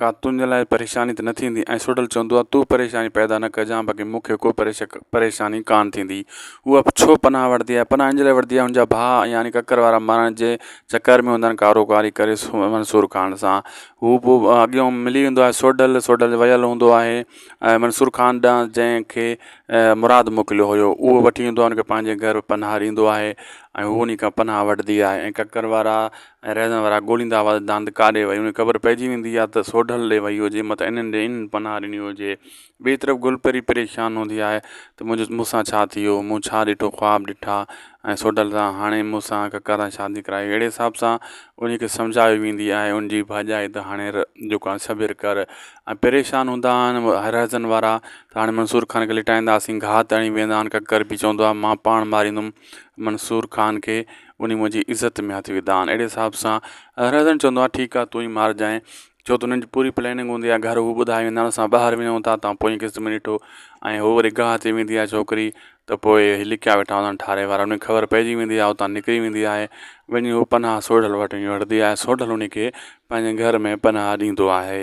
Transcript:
ڪا تنهنجي لاء پريشاني ته نه ٿيندي؟ ۽ سوڍل چوندو آهي، تون پريشاني پيدا نه ڪجان، باقي مون کي ڪو پريشاني ڪانه ٿيندي. هوء به ڇو پناهه وٺندي آهي؟ پناهه ان لاء وٺندي آهي، هن جا ڀاء يعني ڪڪر وارا مارڻ جي چڪر ۾ هوندا آهن، ڪاروڪاري ڪري منصور خان سان هو پوء اڳيون ملي ويندو آهي، سوڍل، سوڍل ويل هوندو آهي ۽ منصور خان ڏانهن جنهن کي مراد موڪليو هيو، اهو وٺي ايندو آهي، ان کي پنهنجي گهر پناهه ڏيندو آهي ۽ هوء انهي کان پناهه وٺندي آهي ۽ ڪڪر وارا ۽ رهزن وارا ڳوليندا هئا ته دانت ڪا ڏي وئي هجي. خبر پئجي ويندي ها ته سوڍل ڏي وئي هجي، مت انهن ڏي انهن پناهه ڏني هجي. ٻئي طرف گلپري پريشان هوندي آهي ته منهنجو مون سان ڇا ٿي ويو، مون ڇا ڏٺو خواب ڏٺا ۽ سوڍل سان هاڻي مون سان ڪڪا سان شادي ڪرائي. اهڙي حساب سان انهيء کي سمجهايو ويندي آهي ان جي ڀاڄائي ته هاڻي ر جيڪو آهي صبر ڪر ۽ پريشان هوندا آهن رهزن وارا ته هاڻي منصور خان کي لٽائينداسين گهات هڻي ويهندا آهن ڪڪر به چوندو آهي مان پاڻ ماريندم. منصور خان کي انهي منهنجي عزت ۾ هٿ وڌائن اهڙي حساب سان رهزن چوندو آهي ٺيڪ آهي تون ئي مارجانء ڇو ته انهن جي پوري پليننگ هوندي آهي گهر هو ٻڌائي ويندا آهن اسان ٻاهر وڃون ٿا تان پوئين قسط ۾ ڏٺو ۽ هو وري گاهه تي ويندي آهي ڇوڪري ته پوء هي لڪيا ويٺا هوندا آهن ٺاري وارا انهي خبر پئجي ويندي آهي اتان نڪري ويندي آهي وڃي هو پناهه سوڍل وٽ وڃي وڙهندي آهي سوڍل انهي کي پنهنجي گهر ۾ پناهه ڏيندو آهي